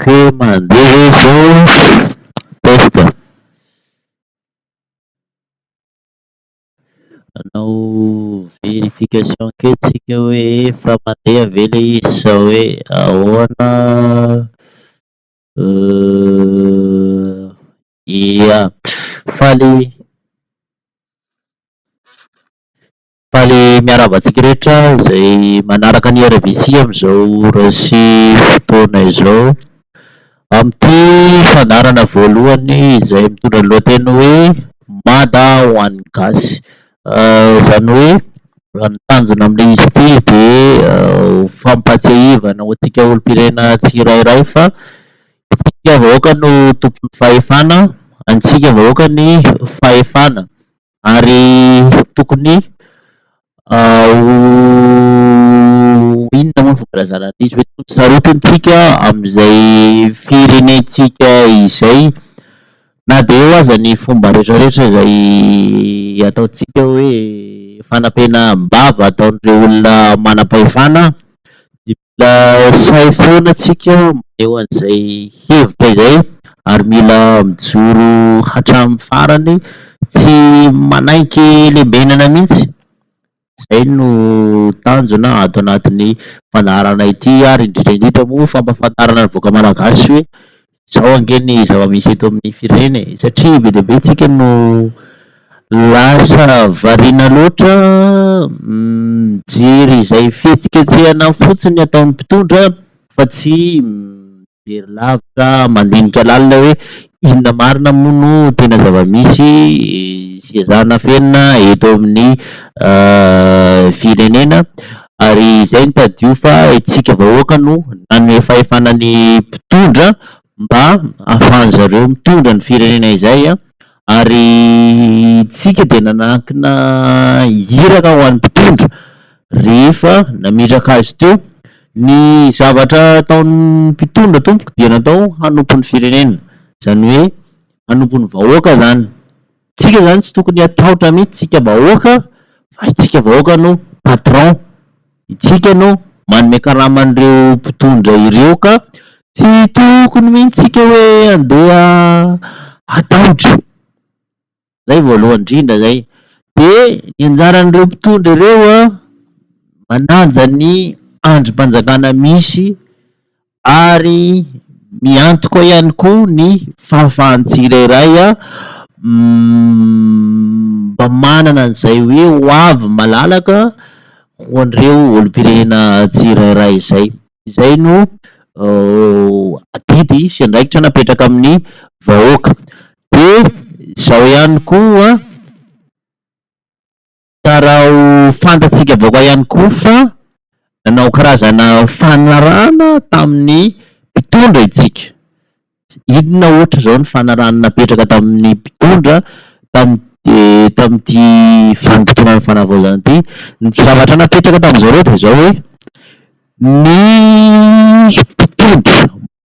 Kay mandeha ve zao test a. Hanao verification kely tsika hoe efa mandeha ve le izy sa hoe ahoana Ia. Faly faly miarahaba antsika rehetra izay manaraka ny RVC amin'izao raisy fotoana izao amin'ity fandaharana voalohany izay mitondra ny lohateny hoe Mada ho an'ny Gasy. Izany hoe ny tanjona amin'ilay izy ity dia ho fampahatsiahivana ho antsika olom-pirenena tsirairay fa Antsika vahoaka no tompon'ny fahefana, antsika vahoaka ny fahefana ary tokony ho inona moa ny filazana an'izy hoe tokony sarotintsika amin'izay firenentsika izay na dia eo aza ny fomba rehetra rehetra izay ataontsika hoe fanampenam-bava ataon'ireo olona manam-pahefana dia Mila sahy foana tsika maneho an'izay hevitra izay ary mila mijoro hatramin'ny farany tsy manaiky lembenana mihitsy. Izay no tanjona ato anatin'ny fandaharana ity ary indrindra indrindra moa fampahafantarana ny vahoaka malagasy hoe Izao ange ny zava-misy eto amin'ny firenena e! Satria be dia be tsika no lasa variana loatra mijery izay fihetsiketsehana fotsiny ataon'ny mpitondra fa tsy mijery lavitra, mandinika lalina hoe inona marina moa no tena zava-misy sy ezahina afenina eto amin'ny firenena. ary izay no tadidio fa isika vahoaka no nanome fahefana ny mpitondra mba hahafahany zareo mitondra ny firenena izay ary isika dia nanankina iraka ho an'ny mpitondra rehefa nametraka azy teo, ny zavatra ataon'ny mpitondra tompoko dia natao hanompo ny firenena izany hoe hanompo ny vahoaka izany Tsika zany tsy tokony hatahotra mihitsy tsika vahoaka fa itsika vahoaka no patron, itsika no manome karama an'ireo mpitondra ireo ka tsy tokony mihitsy tsika hoe andeha hatahotra, zay voalohany indrindra zay, de ny anjaran'ireo mpitondra ireo an, manaja ny andrim-panjakana misy ary miantoka ihany koa ny fahafahan'ny tsirairay mba manana an'izay hoe hoavy malalaka ho an'ireo olom-pirenena tsirairay izay. Izay no adidy sy andraikitra napetraka amin'ny vahoaka. Dia izao ihany koa Ka raha ho fantatsika vaoka ihany koa fa nanao karazana fanarahana tamin'ny mpitondra itsika. Inona ohatra izao ny fanarahana napetraka tamin'ny mpitondra tamin'ity tamin'ity vanim-potoanan'ny fanavaozana ity? Ny zavatra napetraka tamin'izareo dia izao hoe ny mpitondra.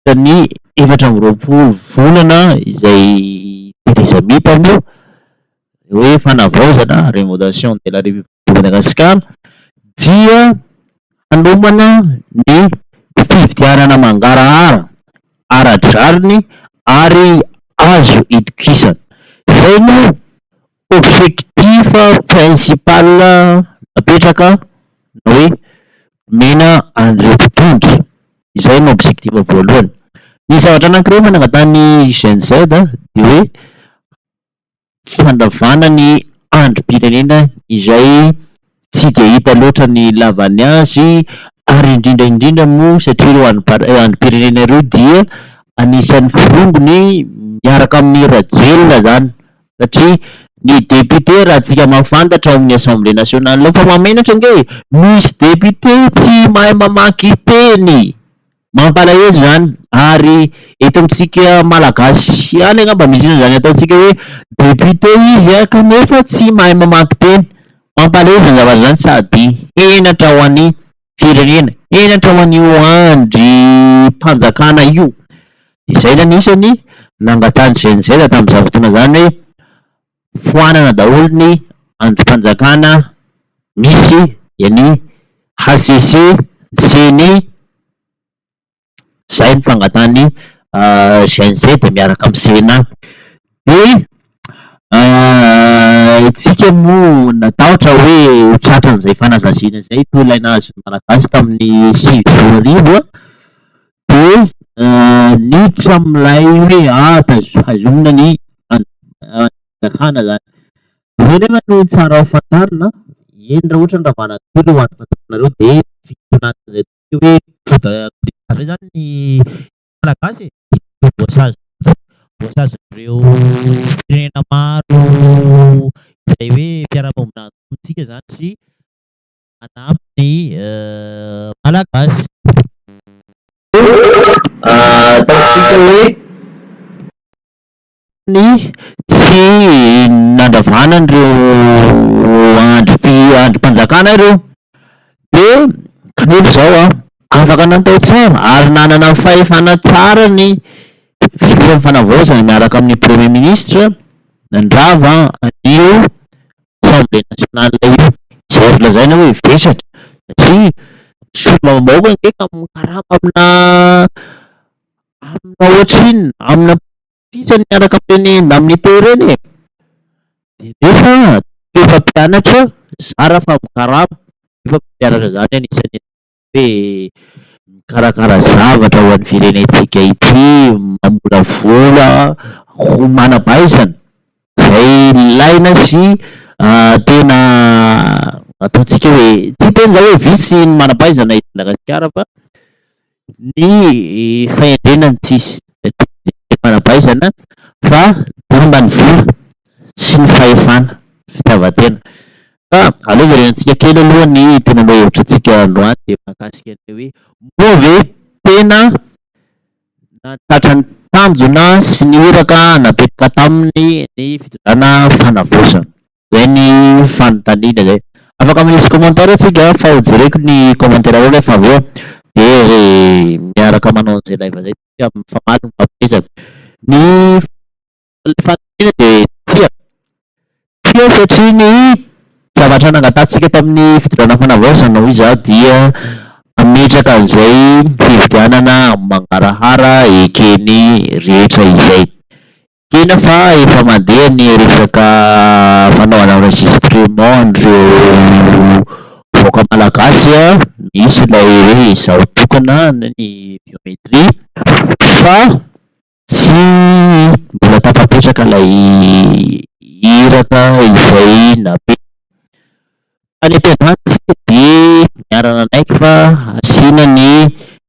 Tamin'ny efatra amby roapolo volana izay Theresa May taloha, ilay hoe fanavaozana, renovation de la République de Madagascar, dia hanomana ny fifidianana mangarahara, ara-drariny ary azo itokisana. Izay no Objectif principal napetraka ny hoe nomena an'ireo mpitondra, izay no objectif voalohany. Ny zavatra anankiray efa nangatahan'ny GNZ dia hoe fandravana ny andrim-pirenena izay tsy dia hita loatra ny ilavany azy ary indrindra indrindra moa satria ireo andrim-pirenena ireo dia anisan'ny forongony miaraka amin'i Rajoelina izany satria ny député raha tsika mahafantatra ao amin'ny assemblée nationale ao fa mahamenatra ange e! misy député tsy mahay mamaky teny! Mampalahelo izany ary eto amintsika Malagasy ihany angamba misy an'izany ataontsika hoe député izy kanefa tsy mahay mamaky teny. Mampalahelo izany zavatra izany sady henatra ho an'ny firenena, henatra ho an'io andrim-panjakana io. Dia izay no anisany nangatahan'ny GNZ tamin'izany fotoana izany hoe foanana daholo ny andrim-panjakana misy eny HCC sy ny izay ny fangatahany GNC dia miaraka amin'ny Sénat dia isika moa natahotra hoe ho tratran'izay fanazaziana izay toa ilay nahazo ny Malagasy tamin'ny sivy sy roa arivo Dia niditra amin'ilay hoe ah taizo- haizomina ny fanjakana zany. Zay nefa no tsara ho fantarina, eny raha ohatra ny ravàna toy ireo andro fanjakanareo dia vitsy anatin'izay atao hoe coup de coup d'état zay zany ny Malagasy e, dia voasazy mihitsy, voasazin'ireo firenena maro izay hoe mpiara-monina amintsika zany sy. manampy ny Malagasy. Ataontsika hoe ny tsy nandravana an'ireo andrim-panjakana ireo dia kanefa izao an, afaka natao tsara ary nanana fahefana tsara ny filohan'ny fanavaozana miaraka amin'ny Premier Ministre nandrava an'io Assemblée nationale io tsy azo lazaina hoe vesatra satria solombavambahoaka ange ka mikarama amina amina ohatrinona amina politisany miaraka amin'ireny indemnité ireny e! dia nefa toetra mpianatra zara fa mikarama nefa mampianatra izany anisan'ny hoe mikarakara zavatra ho an'ny firenentsika ity, mamolavola ho manam-pahaizana izay ilaina sy tena ataontsika hoe, tsy hiteny izaho hoe vitsy ny manam-pahaizana eto Madagasikara fa ny fahendrena no tsy misy, ny manam-pahaizana fa jamba ny vola sy ny fahefana, fitiavan-tena. Fa aleo verenantsika kely aloha ny tena lohahevitra antsika androany dia mahakasika an'ilay hoe moa ve tena nahatratra ny tanjona sy ny iraka napetraka taminy ny fitondrana fanavaozana. Izay ny fanontaniana izay. Afaka manisy commentaire tsika fa ho jereko ny commentaire-reo rehefa avy eo dia miaraka manao an'izay live izay tsika mifamaly no mampihezaka. Ny. Ilay fanamiana dia tsia. Tsia satria ny zavatra nangatahantsika tamin'ny fitondrana fanavaozana hoy izaho dia hametraka an'izay fifidianana amin'ny mangarahara ekeny rehetra izay. Ekena fa efa mandeha ny resaka fanaovana enregistrement an'ireo vahoaka malagasy misy ilay hoe izaho tokana ny biométrie fa Tsy mbola tafapetraka ilay iraka izay nampiany. Tany am-piandohana isika dia niara-nanaiky fa hasiana ny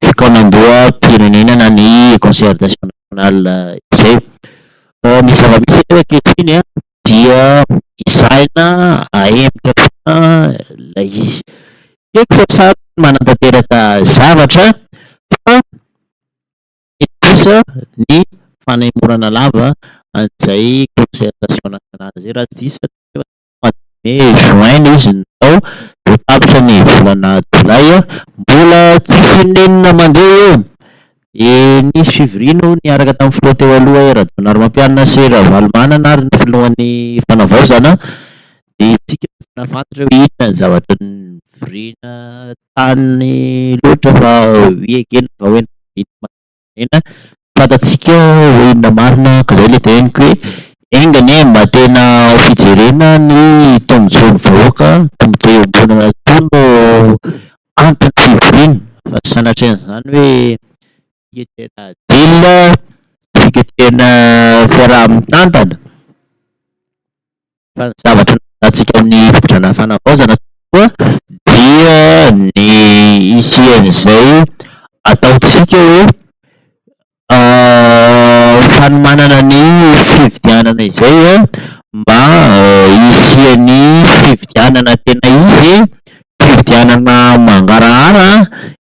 fikaonandoham-pirenenana ny Concertation Nationale izay. Ny zava-misy aloha ankehitriny dia hisahina hahemotra foana ilay izy. Tsy haiko fa samy manatanteraka zavatra fa. Indrindra kosa ny fanaimorana lava an'izay concertation nationale izay raha tsy diso aho teo aloha teo amin'ny mois de mai, juin ilay izy no natao dia tapitra ny volana jolay mbola tsisy inon'inona mandeha eo dia nisy fivoriana hono niaraka tamin'ny filoha teo aloha hoe Rajaonarimampianina sy Ravalomanana ary ny filohan'ny fanavaozana dia isika tsy nahafantatra hoe inona ny zavatra nivoriana Any loatra fa vy ekena vao hoe nandidy ny maha-firenena, fantatsika hoe inona marina ka izay ilay teneniko hoe enga anie mba tena ho fijerena ny tombotsoan'ny vahoaka, tombotsoa iombonana toa no anton'ny fivoriana fa tsy sanatria an'izany hoe fiketehana adila, fiketehana fiaraha-mitantana. Fa ny zavatra nahalalantsika amin'ny fitondrana fanavaozana tokoa dia ny hisian'izay ataontsika hoe fanomanana ny fifidianana izay mba hisian'ny fifidianana tena izy, fifidianana mangarahara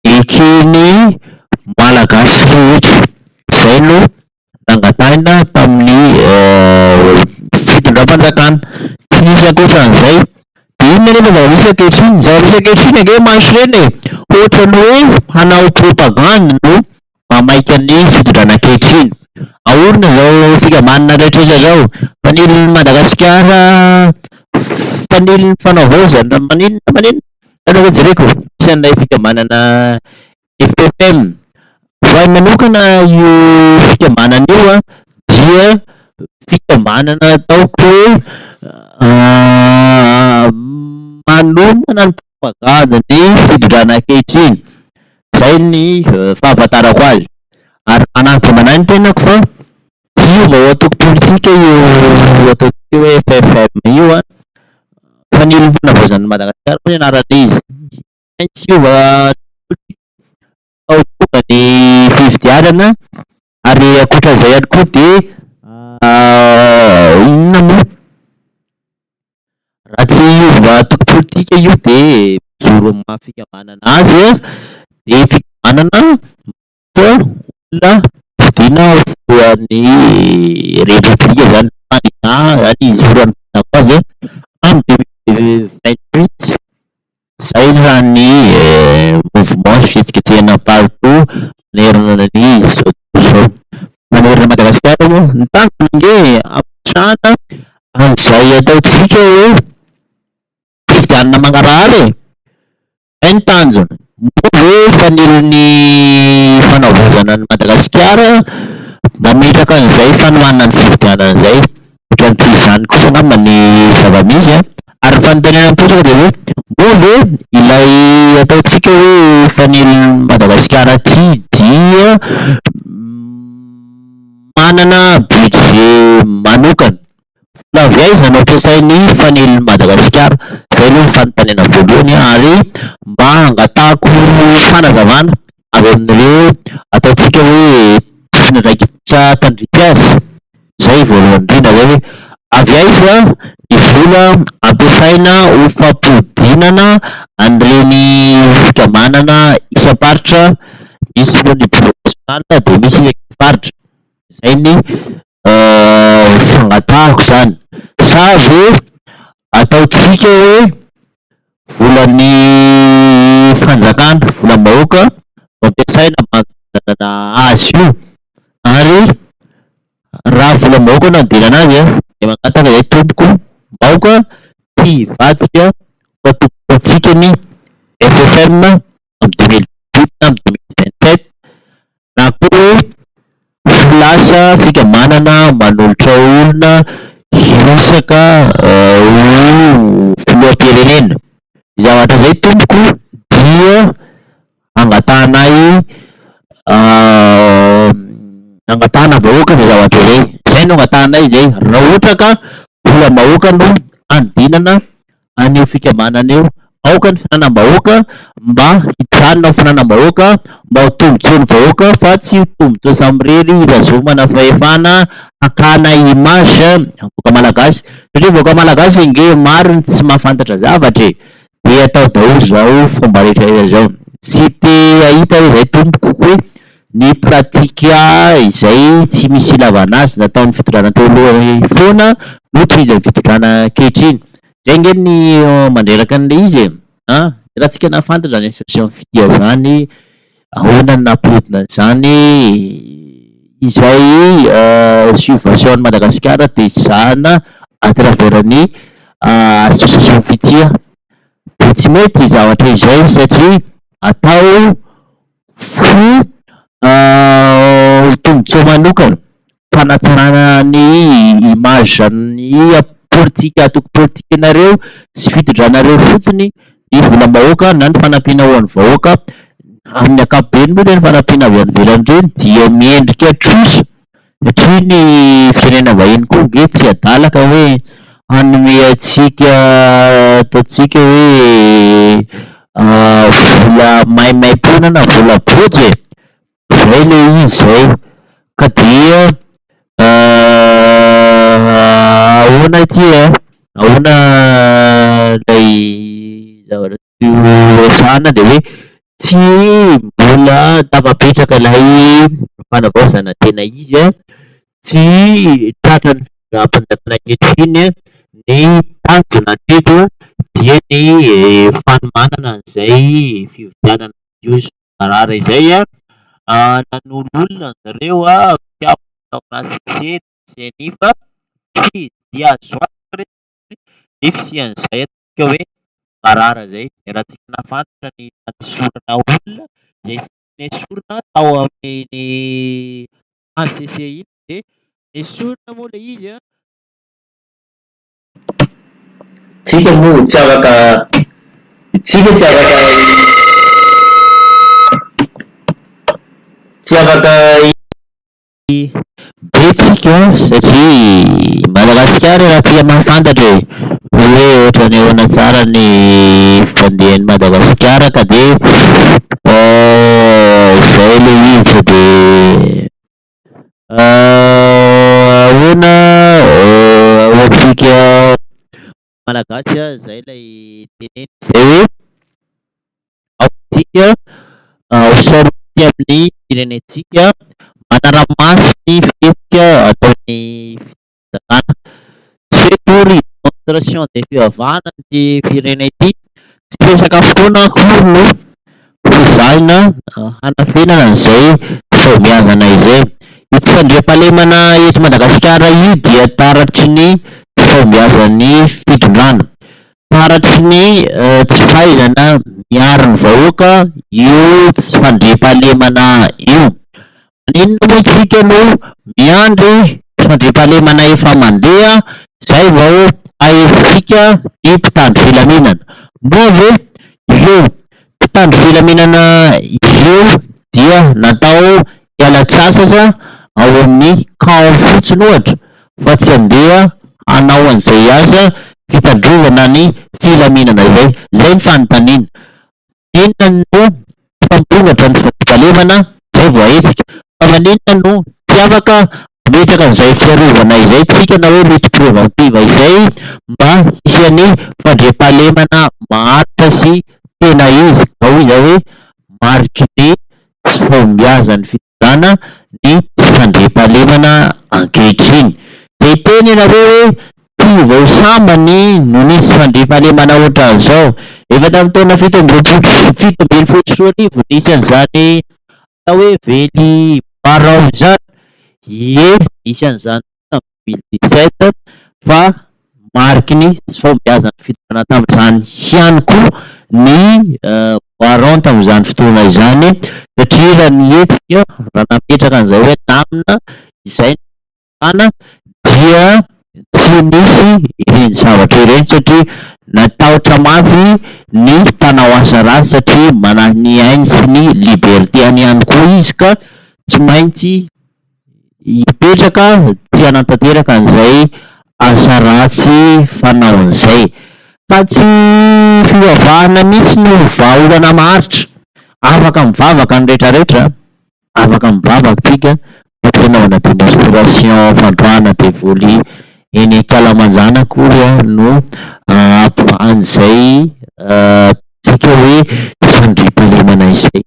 eken'ny Malagasy rehetra. Izay no. nangatahina tamin'ny fitondram-panjakana. Tsy nisy ankoatran'izay. Dia inona anefa no zava-misy ankehitriny? Ny zava-misy ankehitriny ange mantsy ireny e! Ohatra ny hoe hanao propagandy no mamaika ny fitondrana ankehitriny. Ahorona izao fikambanana rehetrarehetra izao. Mpanilin'i Madagasikara, mpanilin'ny fanaovaozana, maninona maninona. Ianareo ve jereko? Misy an'ilay fikambanana Ethotm. Ho ahy manokana io fikambanana io dia fikambanana ataoko hoe manomana ny propagandy ny fitondrana ankehitriny, izay ny fahafantarako azy ary manahy dia manahy ny tenako fa io vao antoko politika io ataontsika hoe FFM io fa ny olom-panavaozan'i Madagasikara hono ianarana izy. maintsy hiova tolotolo vao tonga ny fifidianana ary ankoatra izay ihany koa dia inona moa raha tsy hiova antoko politika io dia mijoro amin'ny maha fikambanana azy dia fikambanana olona fodiana ho filohan'ny repoblika izany tany Ghana izany hizoro an'i Bouteflika en deux mille vingt huit. Izay raha ny mouvement sy fihetsiketsehina partout manerana an'izao tontolo izao. Manerana an'i Madagasikara moa ny tanjona ange hametrahana an'izay ataontsika hoe fifidianana mangarahara e! Izay ny tanjona. Moa ve fanilon'ny fanavaozana an'i Madagasikara mametraka an'izay fanohanana ny fifidianana izay? Ohatran'ny toy izany kosa angamba ny zava-misy an! Ary ny fanontaniana mipetraka dia hoe, moa ve ilay ataontsika hoe fanilon'i Madagasikara ity dia manana budget manokana? Vola avy aiza no ampiasain'ny fanelin'i Madagasikara? Izay aloha ny fanontaniana voalohany ary mba hangatahako fanazavana avy amin'ireo ataontsika hoe tompon'andraikitra tandrify azy, izay voalohany indrindra izay hoe avy aiza ny vola ampiasaina ho fampodianana an'ireny fikambanana isam-paritra, misy moa ny Bureau national dia misy isaky ny faritra. Izay ny fangatahako izany. Sa ve ataontsika hoe volan'ny fanjakana, volam-bahoaka no ampiasaina mba handevenana azy io? Ary raha volam-bahoaka no handevenana azy an, dia mangataka izahay tompoko mba aoka tsy hivadika ho antokom-pontsika ny FFM. amin'ny deux mille dix-huit na amin'ny deux mille vingt-sept na koa hoe ho lasa fikamanana manolotra olona hirotsaka ho filoham-pirenena. Izay zavatra izay tompoko dia angatahana ahy angatahana vahoaka izay zavatra izay, izay no angatahanay izay raha ohatra ka volam-bahoaka no handinana an'io fikambanana io. Aoka ny fananam-bahoaka mba hijanona ho fananam-bahoaka, mba ho tombontsoan'ny vahoaka fa tsy ho tombontsoa samirery hitazomana fahefana, hakana image ny vahoaka malagasy. Satria vahoaka malagasy ange maro ny tsy mahafantatra zavatra e! dia atao daholo zao fomba rehetra rehetra zao. Tsy te hahita hoe zay tompoko hoe Ny pratika izay tsy misy ilavana azy nataon'ny fitondrana teo aloha foana no tohizan'ny fitondrana ankehitriny. Zay ange ny mandreraka an'ilay izy e! an! Dia raha tsika nahafantatra izany association Fitia izany, ahoana no nampihodina an'izany e? Izay subvention an'i Madagasikara dia zahana à travers ny association Fitia. Dia tsy mety izay zavatra izay satria atao Ny tombontsoa manokana, fanatsarana ny image ny politika antoko politikanareo sy fitondranareo fotsiny ny volam-bahoaka na ny fanampiana ho an'ny vahoaka, amin'ny ankapobeny moa zany ny fanampiana avy any ivelany ireny dia miendrika trosa. Satria ny firenena vahiny koa ange tsy adala ka hoe hanome antsika ato antsika hoe vola maimaim-poana na vola bojo e! Zay le izy zay ka dia ahoana ity e! Ahoana ilay zavatra ity? resahana dia hoe tsy mbola tafapetraka ilay fanavaozana tena izy an, tsy tratra ny fampanjaka ankehitriny ny tanjona hatreto dia ny fanomanana an'izay fifidianana madio sy mangarahara izay an, nanoloana an-dry zareo mpikambana tao aminà CEC sy ny CNI fa tsy dia azo antoka ny fisian'izay hatreto. midika hoe marary izay. Iarahantsika nahafantra ny tany sorona olona izay nesorina tao amin'iny HCC iny dia nesorina moa ilay izy an! Tsika moa tsy afaka tsika tsy afaka tsy afaka. be tsika satria i Madagasikara raha tsika mahafantatra e, hoe ohatran'ny ahoana tsara ny fandehan'i Madagasikara ka dia izay ilay izy fa dia ahoana ahahoantsika Malagasy ah zay lay teneny zay hoe aoka tsika ho saoritsy amin'ny firenentsika manara-maso ny fihetsika ataon'ny fitondrana. Tsy hoe tory demonstration dia fivavahana ity firenena ity. Tsy resaka fotoana akory no Ezahina hanafenana izay fahombiazana izay. Ity fandriampahalemana eto Madagasikara io dia taratry ny tsy fahombiazan'ny fitondrana, taratry ny tsy fahaizana miaro ny vahoaka io tsy fandriampahalemana io. Maninona moa isika no miandry fandriampahalemana efa mandeha izay vao hahesintsika ny mpitandro filaminana? Moa ve ireo mpitandro filaminana ireo dia natao hiala-tsasatra ao amin'ny camp fotsiny ohatra fa tsy handeha hanao an'izay asa fitandrovana ny filaminana izay? Izay ny fanontaniana. Maninona no tsy mpamorona ny fandriam-pahalemana izay voahetsika? Fa maninona no tsy afaka mametraka an'izay fiarovana izay isika na hoe lutte préventive izay mba hisian'ny fandriam-pahalemana maharitra sy tena izy, na hoy izaho hoe mariky ny tsy fahombiazan'ny fitondrana? fitondrana ny tsy fandriampahalemana ankehitriny. Dia hiteny ianareo hoe tsy vao sambany no nisy fandriampahalemana ohatran'izao. Efa tamin'ny taona fito amby roapolo sy fito ambin'ny folo sy roa arivo no nisy an'izany atao hoe vely barao izany. Ie, nisy an'izany. tamin'ny deux mille dix sept fa mariky ny tsy fahombiazan'ny fitondrana tamin'izany ihany koa ny Waron tamin'izany fotoana izany satria raha ny hetsika raha nametraka an'izay hoe namana izay no fahana dia tsy nisy ireny zavatra ireny satria natahotra mafy ny mpanao asa ratsy satria manahy ny ainy sy ny liberté-any ihany koa izy ka tsy maintsy hipetraka tsy hanatanteraka an'izay asa ratsy fanaony izay, fa tsy fivavahana mihintsy no vahaolana maharitra, afaka mivavaka ny rehetra rehetra, afaka mivavaka tsika fa tsy hanaovana démonstration fandroahana devoly eny ankalamanjana akory no hampivaha an'izay ataontsika hoe tsy fandriampahalemana izay.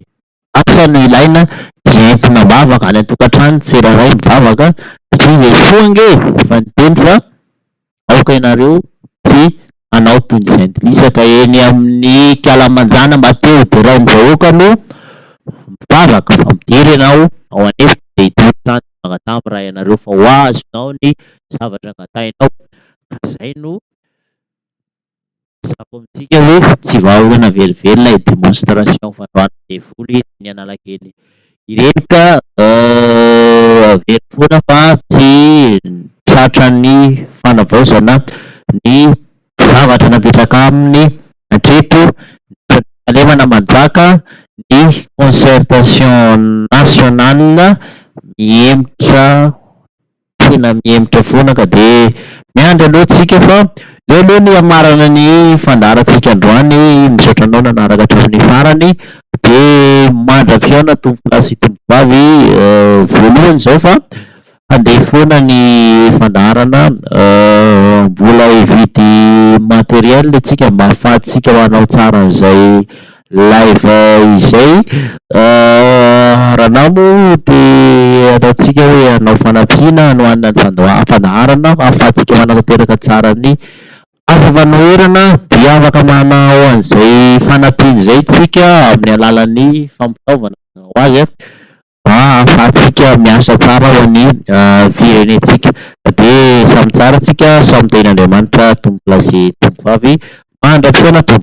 Asa no ilaina dia entina mivavaka any an-tokantrano tsirairay mivavaka satria Jesoa ange efa niteny fa aoka ianareo tsy hanao toy ny jentilisa ka eny amin'ny kalamanjana mba te ho derain'ny vahoaka no mivavaka fa midera ianao ao an'efitra dia hitory trano ny Mpangatà miray anareo fa ho azonao ny zavatra angatahinao ka zay no Mazava ho amintsika hoe tsy vahaolana velively ilay démonstration fandroahana devoly teny Analakely ireny ka averiko foana fa tsy tratra ny fanavaozana ny zavatra napetraka aminy hatreto nandritra ny fahalemana manjaka ny concertation nationale mihemotra tena mihemotra foana ka dia miandry anao tsika fa izay aloha ny hamarana ny fandaharantsika androany misaotra anao nanaraka hatramin'ny farany dia mandra-pihaona tompolahy sy tompovavy voalohany izao fa handeha foana ny fandaharana mbola hividy matériel tsika mba hahafahantsika manao tsara an'izay Live izay Ranao moa te ataontsika hoe hanao fanampiana hanohanana ny fandaharam-pandaharana ahafahantsika manatanteraka tsara ny asa fanoherana dia afaka manao an'izay fanampiana izay tsika amin'ny alalan'ny fampitaovana mazava ho azy mba ahafahantsika miasa tsara ho an'ny firenentsika dia samy tsara tsika samy tehin'Andriamanitra Tompo lahy sy Tompo vavy mandra-pisaina Tompo.